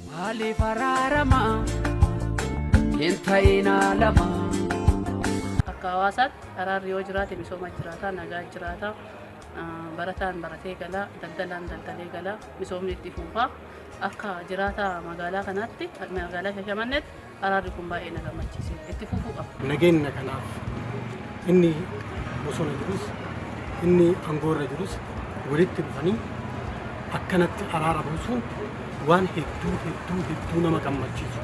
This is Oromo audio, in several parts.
Maaliif araarama hin ta'inaa lama. Akka hawaasaatti araarri yoo jiraate misooma jiraata, nagaa jiraata, barataan baratee gala, daldalaan daldalee gala, misoomni itti fufa. Akka jiraataa magaalaa kanaatti, magaalaa Shashamanneetti Araarri kun baay'ee na gammachiiseera. Itti fufuu qaba. Nageenya kanaaf inni bosona jirus inni aangoo irra jirus walitti dhufanii akkanatti araara buusuun waan hedduu hedduu hedduu nama gammachiisu.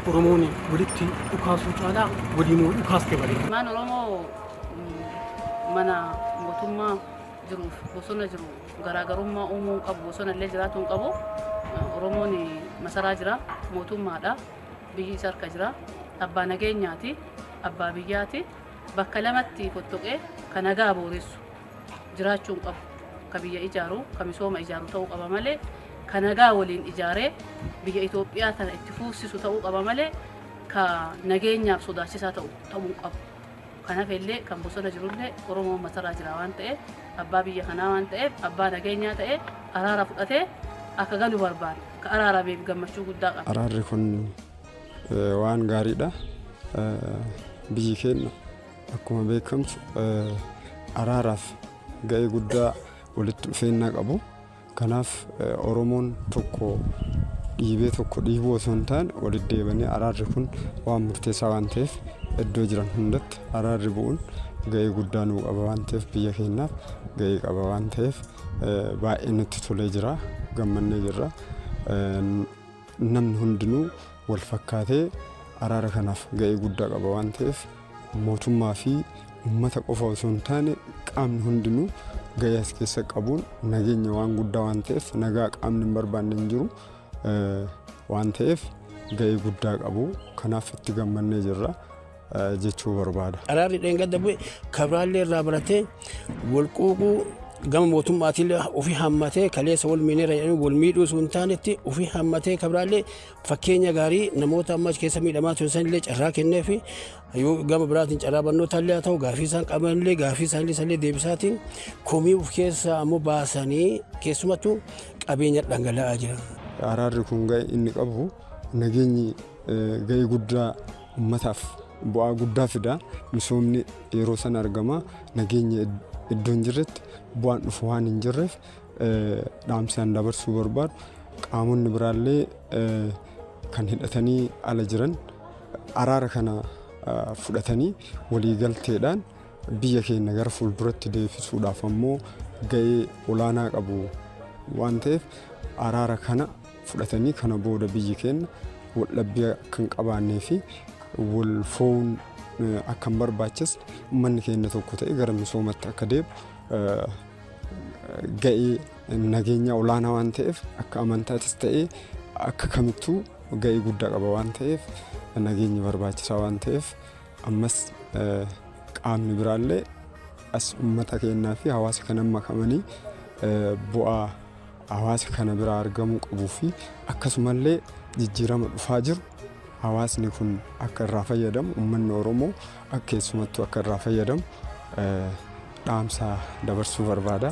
Oromoon walitti dhukaasuu caalaa waliin yoo dhukaaste bareeda. Ilmaan Oromoo mm, mana mootummaa jiruuf bosona jiru Garaagarummaa uumuu hin qabu. Bosona illee jiraatuu hin qabu. Oromoon masaraa jira. Mootummaadha. Biyyi isa harka jira. Abbaa nageenyaati. Abbaa biyyaati. Bakka lamatti fottoqee kan nagaa booressu jiraachuu hin qabu. Ka biyya ijaaru, ka misooma ijaaru ta'uu qaba malee ka nagaa waliin ijaaree biyya Itoophiyaa tana itti fuufsisu ta'uu qaba malee ka nageenyaaf sodaachisaa ta'u ta'uu hin qabu. Kan hafe illee kan bosona jiru illee Oromoo matarraa jira waan ta'eef abbaa biyya kanaa waan ta'eef abbaa nageenyaa ta'ee araara fudhatee akka galu barbaada. Ka araarameef gammachuu guddaa qaba. Araarri kun eh, waan gaariidha. Eh, Biyyi keenya akkuma beekamtu eh, araaraaf ga'ee guddaa walitti dhufeenya qabu. Kanaaf Oromoon tokko dhiibee tokko dhiibuu osoo hin taane waliddeebanii araarri kun waan murteessaa waan ta'eef iddoo jiran hundatti araarri bu'uun ga'ee guddaa nuu qaba waan ta'eef biyya keenyaaf ga'ee qaba waan ta'eef baay'ee nutti tolee jira gammannee jirra. Namni hundinuu wal fakkaatee araara kanaaf ga'ee guddaa qaba waan ta'eef Mootummaa fi ummata qofa osoo hin taane qaamni hundinuu gahee as keessa qabuun nageenya waan guddaa waan ta'eef nagaa qaamni hin barbaanne hin jiru waan ta'eef gahee guddaa qabu kanaaf itti gammannee jirra jechuu barbaada. Araarri dheengadda bu'e kabraallee irraa baratee wal quuquu gama mootummaatiin ofii hammatee kaleessa wal miineera jedhanii wal miidhuu osoo hin taanetti ofii hammatee kabraallee Fakkeenya gaarii namoota amma achi keessa miidhamaa turan sanillee carraa kenneefi yoo gama biraatiin carraa barnootaa illee haa ta'u gaafii isaan qaban illee gaafii isaanii sanillee deebisaatiin komii of keessaa ammoo baasanii keessumattuu qabeenya dhangala'aa jira. Araarri kun ga'e inni qabu nageenyi ga'ee guddaa ummataaf bu'aa guddaa fida. Misoomni yeroo sana argama. Nageenya iddoo hin jirretti bu'aan dhufu waan hin jirreef Dhaamsi an dabarsuu barbaadu qaamonni biraallee kan hidhatanii ala jiran araara kana fudhatanii waliigalteedhaan biyya keenya gara fuulduratti deebisuudhaaf ammoo ga'ee olaanaa qabu waan ta'eef araara kana fudhatanii kana booda biyyi keenya waldhabbii akka hin qabaannee fi wal fo'uun akka hin barbaachisne uummanni keenya tokko ta'ee gara misoomatti akka deemu ga'ee nageenya olaanaa waan ta'eef akka amantaatis ta'ee akka kamittuu ga'ee guddaa qaba waan ta'eef nageenyi barbaachisaa waan ta'eef ammas eh, qaamni biraallee as uummata keenyaa fi hawaasa kana makamanii eh, bu'aa hawaasa kana biraa argamuu qabuu fi akkasumallee jijjiirama dhufaa jiru hawaasni kun akka irraa fayyadamu uummanni oromoo akka keessumattuu akka irraa fayyadamu eh, dhaamsa dabarsuu barbaada.